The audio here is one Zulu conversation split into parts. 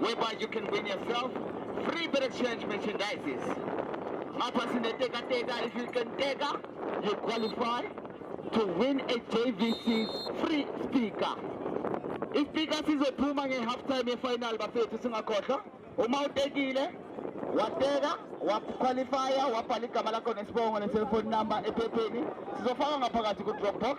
whereby you can win yourself free better change merchandises. Mapasi Neteka Teka, if you can Teka, you qualify to win a JVC's free speaker. If speaker sizophuma nge-half time ye-final bafethu singakhohlwa uma utekile wateka waqualifya wabhala igama lakho nesibongo ne-cellphone number ephepheni sizofaka ngaphakathi ku-dropbox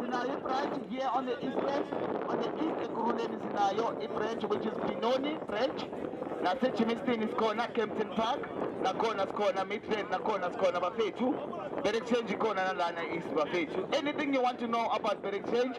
Sinayo ibranch here on the east branch. On the east ekurhuleni sinayo ibranch which is Binoni branch. Nasejimiston isikhona Kempton Park. Nakhona sikhona Midrand nakhona sikhona bafethu. Berekshenji ikhona nalana east bafethu. Anything you want to know about Berekshenji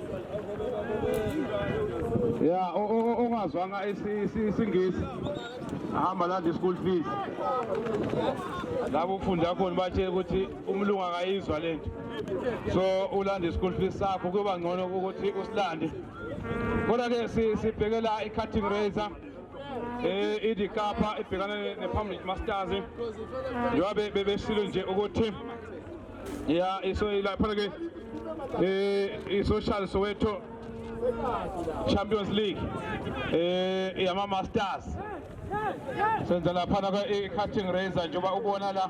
ya ongazwanga isingisi ahamba landa i-school fees labo ufundi akhona bathe ukuthi umlungu akayizwa le nto so ulanda i-school fees sakho kuyoba ngcono ukuthi usilande kodwa-ke sibhekela i-cutting razor eh idikapa ibhekane nephambili masters njengoba bebeshilo nje ukuthi ya iso ilapha ke eh isocial soweto champions league eh yama masters senza lapha na ke cutting razor njengoba ubona la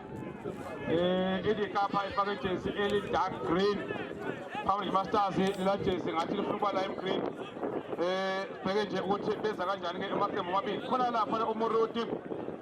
eh idikapa ifake jersey eli dark green phambi masters la jersey ngathi lifuna ukuba lime green eh bheke nje ukuthi beza kanjani ke emaqembu amabili khona lapha umuruti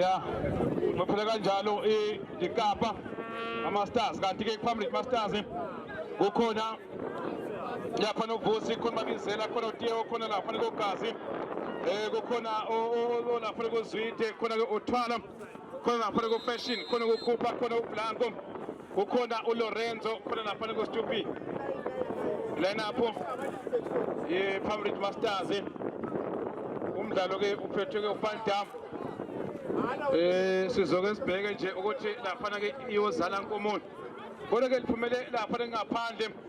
ya baphela kanjalo ikapa amastars kanti-ke kuphambili mastars kukhona lapha novusi khona babizela khona utiewo khona lapha nelogazi um eh, kukhona olapha nekozwide khona-ke othwala khona lapha nekofashion khona kukhupha khona ublanko kukhona uLorenzo khona lapha kuStupi lineup yePirates Masters umdlalo ke uphethwe ke uFan Dam eh sizoke sibheke nje ukuthi lapha ke iyozala nkomoni kodwa ke liphumele lapha ngaphandle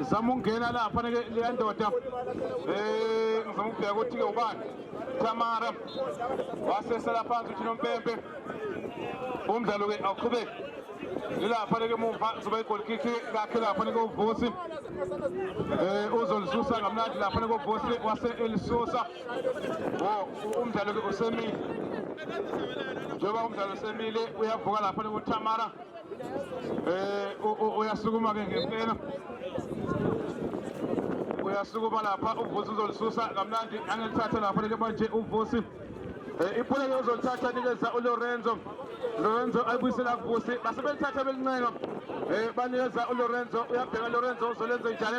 zama ukungena lapha leya ndoda um ngizama ukubheka ukuthi-ke ubani tamara wasesela phansi uthina umpempe umdlalo-ke awuqhubeki ilapha leke mumva zoba igolkiki kakhe lapha nike uvusi um uzolisusa ngamnandi lapha nike uvusi wase-elisusa umdlalo-ke usemile njengoba umdlalo usemile uyavuka lapha nike utamara Eh uyasukuma ke ngempela. Uyasukuma lapha uvusi uzolisusa kamnandi angekuthathe lapha leke manje uvusi. Eh iphule lozolithatha nikeza uLorenzo. Lorenzo ayibuyisela kuvusi base belithatha belincenga. Eh banikeza uLorenzo uyabheka Lorenzo uzolenza njani?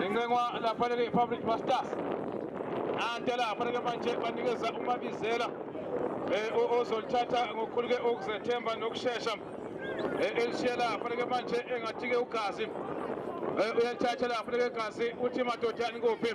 Incenwa lapha le Public Masters. Ante lapha ke manje banikeza umabizela eh ozolithatha ngokukhulu ke ukuzethemba nokusheshsha. Eh, Elishiya lapha ke manje engathi ke ugazi. Eh, Uyalithatha lapha ke gazi uthi madoda nikuphi.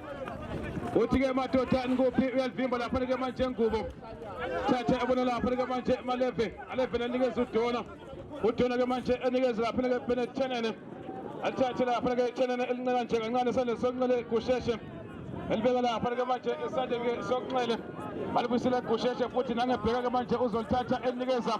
uthi-ke madoda nikuphi uyalivimba lapha-ke manje ngubo thatha ebona lapha-ke manje maleve alevele anikeza udona udona-ke manje enikeza lapha-ke benethenene athathe lapha-ke ithenene elincela nje kancane esandleni sokunxele kusheshe elibeka lapha-ke manje esandleni sokunxele balibuyisela kusheshe futhi nangebheka-ke manje uzolithatha elinikeza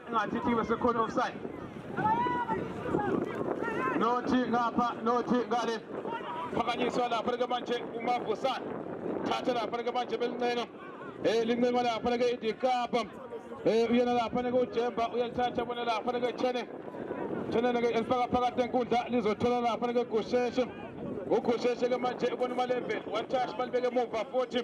Ngathi thibe sekhona offside. Nothi ngapha, nothi ngale. Phakanyiswa lapha ke manje uMavusana. Thatha lapha ke manje belincenga. Eh lincenga lapha ke iDikapa. Eh uyena lapha ke uJemba uyalithatha bona lapha ke Chene. Chene ke elifaka phakathi enkundla lizothola lapha ke Gusheshe. Ugusheshe ke manje ubona uMalembeni. Wathash balibeke emuva futhi.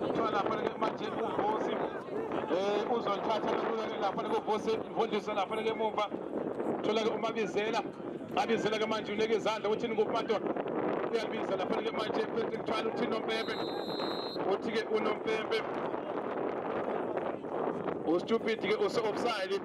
Kuthiwa lapha ke manje uVusi eh uzolithatha lula ke lapha ke uVusi imfundiso lapha ke emuva. Thola ke umabizela. Abizela ke manje uneke izandla ukuthi ningupato uyabiza lapha ke manje phethe kuthiwa uthi nompembe. Uthi ke unompembe. Ustupid ke use offside.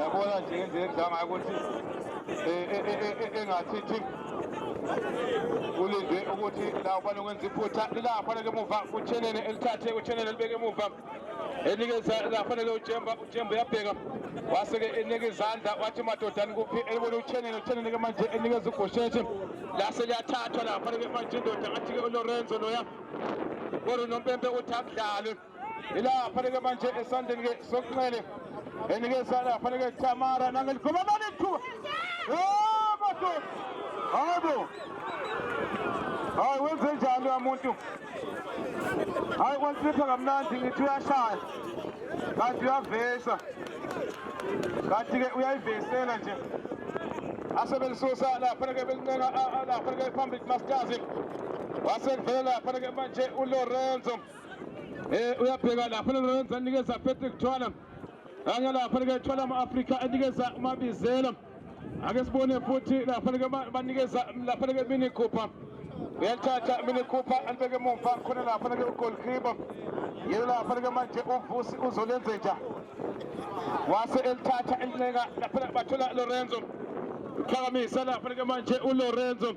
yabona nje ngendlela ekudlanga ukuthi engathithi ulinde ukuthi la ufane ukwenza iphutha ila afanele emuva utshenene elithathe utshenene elibeke emuva enikeza afanele utshemba utshemba uyabheka wase-ke enika izandla wathi madodani kuphi elibona utshenene utshenene-ke manje enikeza ugosheshe la seliyathathwa la afanele manje indoda ngathi-ke ulorenzo loya kodwa unompempe uthi akudlalwe ilapha-ke manje esandleni-ke sokunxele enikeza lapha-ke tamara nangeligoma mali ithuba madoda hayi bo hayi wenze njani umuntu hayi kwanhlipha kamnandi ngithi uyashaya kanti uyavesa kanti-ke uyayivesela nje asebelisusa lapha-ke belincenga lapha-ke phambili kumastazi wasekuvele lapha-ke manje ulorenzo Eh uyabheka lapha Lorenzo anikeza Patrick Thwala. Ake lapha ke Thwala ama-Afrika anikeza uMabizela. Ake sibone futhi lapha ke banikeza lapha ke Mini Cooper. Uyathatha Mini Cooper alibeke emuva khona lapha ke uGoalkeeper. Yena lapha ke manje uVusi uzolenze njani? Wase elithatha elineka lapha bathola Lorenzo. Uqhakamisa lapha ke manje uLorenzo.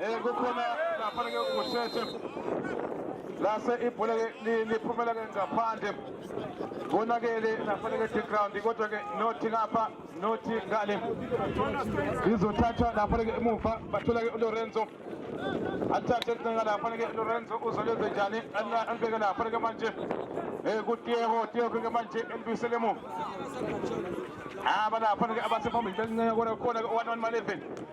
Eh kukhona lapha ke kusheshe lase ibhola liphumela ke ngaphandle konakele nafanele ke ground kodwa ke nothi ngapha nothi ngale izothathwa nafanele ke emuva bathola ke uLorenzo athathe incinga nafanele ke Lorenzo uzolenze njani anibeke nafanele ke manje eh kutiyeko tiyeko ke manje elibisele emuva aba nafanele ke abasephambili bencinga kona khona ke 1 1 11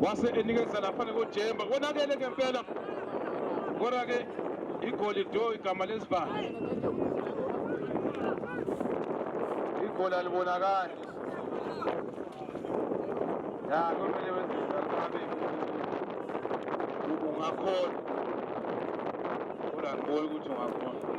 wase enikeza laphana kojemba konakele ngempela kodwa-ke igoli do igama lesibani igoli alibonakali ya kumele wenzeabe ungakhona kodwa ngiboni ukuthi ungakhona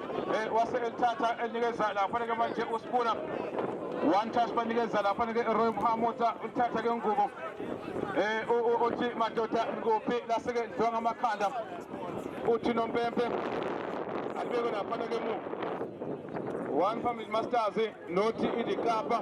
Eh, wase elithatha elinikeza la faneke manje usibula one touch banikeza la faneke Roy Mhamota uthatha ke ngubo eh uthi madoda ngophi laseke lidliwa ngamakhanda uthi nompempe alibeke la faneke mu one family masters nothi idikapa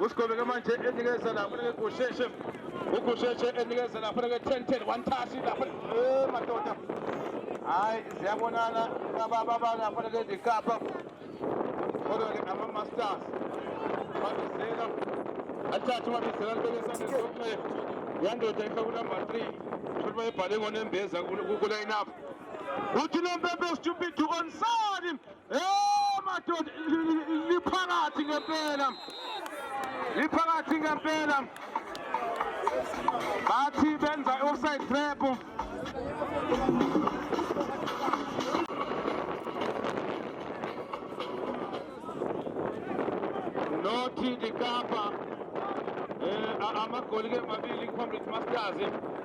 usigobeke manje enikeza lapho nekusheshe ugusheshe enikeza lapho neke 10 10 one touch lapho eh madoda hayi ziyabonana ababa balapho neke ndikapha kodwa ke ama masters babizela athathe babizela lelesane sonke yandoda ifaka number 3 futhi bayibhale ngone mbeza ku line up uthi lempempe stupid to onside Eh madoda liphakathi ngempela. Liphakathi ngempela. Bathi benza offside trap. Nothi dikapa. Eh amagoli ke mabili iComrades Masters.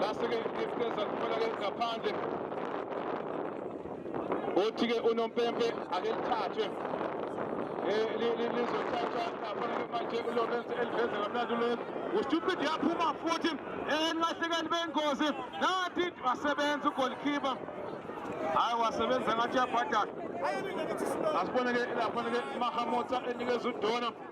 lase-ke isikeza kuphela-ke ngaphandle othi-ke unompempe ake lithathwe lizothathwa ngaphandle manje ulorense eliveze kamnandi ulorense ustupid yaphuma futhi enibahlekeli bengozi nathi wasebenza ugolikhipha hayi wasebenza ngathi yabhadala asibone-ke laphana-ke mahamotsa enikeza udona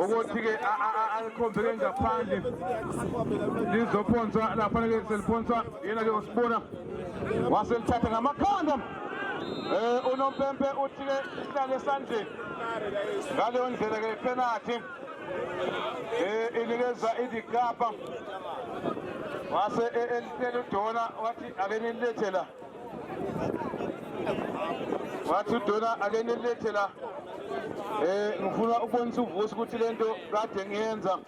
ukuthi-ke alikhombeke ngaphandle lizophonswa la kufanele seliphonswa yena-ke usibona waselithatha ngamakhanda Eh unompempe uthike ihlale esandleni. Ngaleyo ndlela ke penalty. Eh inikeza idigaba. Wase elitshela udona wathi ake nilethela wathi udona ake nilethe la eh ngifuna ukubonisa uvusi ukuthi lento kade ngiyenza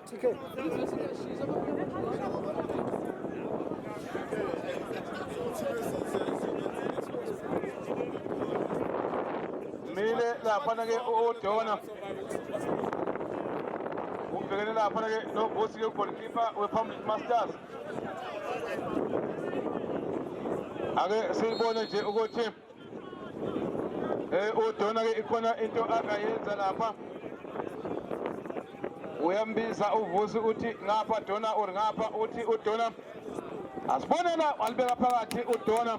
mile laphana ke udona ubhekene laphana ke novusi ke goalkeeper wepublic masters ake sibone nje ukuthi eh udona ke ikhona into akayenza lapha uyambiza uvusi uthi ngapha dona or ngapha uthi udona asibonela walibeka phakathi udona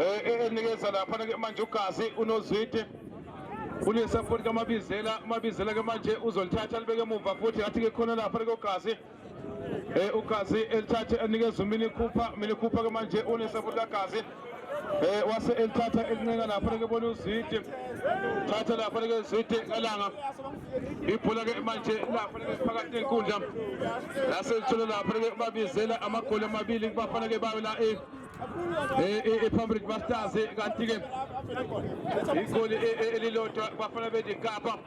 eh, eh, enikeza lapha ke manje ugazi unozwide ulisa futhi kamabizela umabizela ke manje uzolithatha libeke emuva futhi ngathi ke khona lapha ke ugazi eh ugazi elithathe enikeza umini khupha mina khupha ke manje unisa futhi kagazi eh wase elithatha elincenga lapha ke bona uzidi thatha lapha ke uzidi elanga ibhola ke manje lapha ke phakathi nenkundla lase lithola lapha ke babizela amagoli amabili kubafana ke bayo la eh. iphambilini bastars kanti-ke igoli elilodwa bafana bedikapa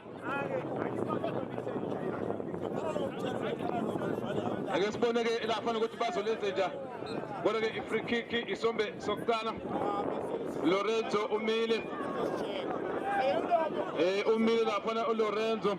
ake sibone-ke lafana ukuthi bazolenze nja kodwa-ke i-free kick isombe sokuqala lorenzo umile um umile lafana ulorenzo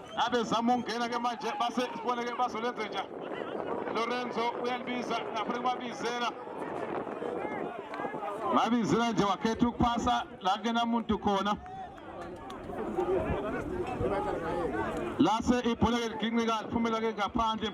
abezama ukungena ke manje base sibone ke bazolenze nja Lorenzo uyalibiza ngaphambi kubabizela babizela nje wakhetha ukuphasa la kena muntu khona lase ibhola ke liginqika liphumela ke ngaphandle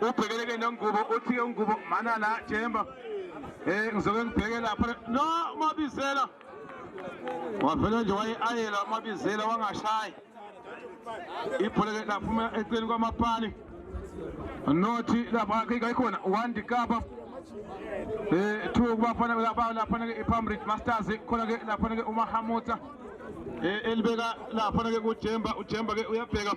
ubhekeleke nengubo uthi ke ngubo mana la jemba eh ngizoke ngibheke lapha no mabizela wavele nje waye-ayela amabizela wangashayi ibhola ke laphuma eceleni kwamapani nothi lapha kayikhona wandi kapa um eh, two kubafana laphana ke ipamridge masters khona ke laphana ke umahamuta um eh, elibeka laphana ke kujemba ujemba ke uyabheka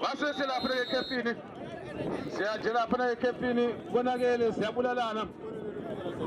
Base selapha ekhefini. Siyajela phana ekhefini konakele siyabulalana.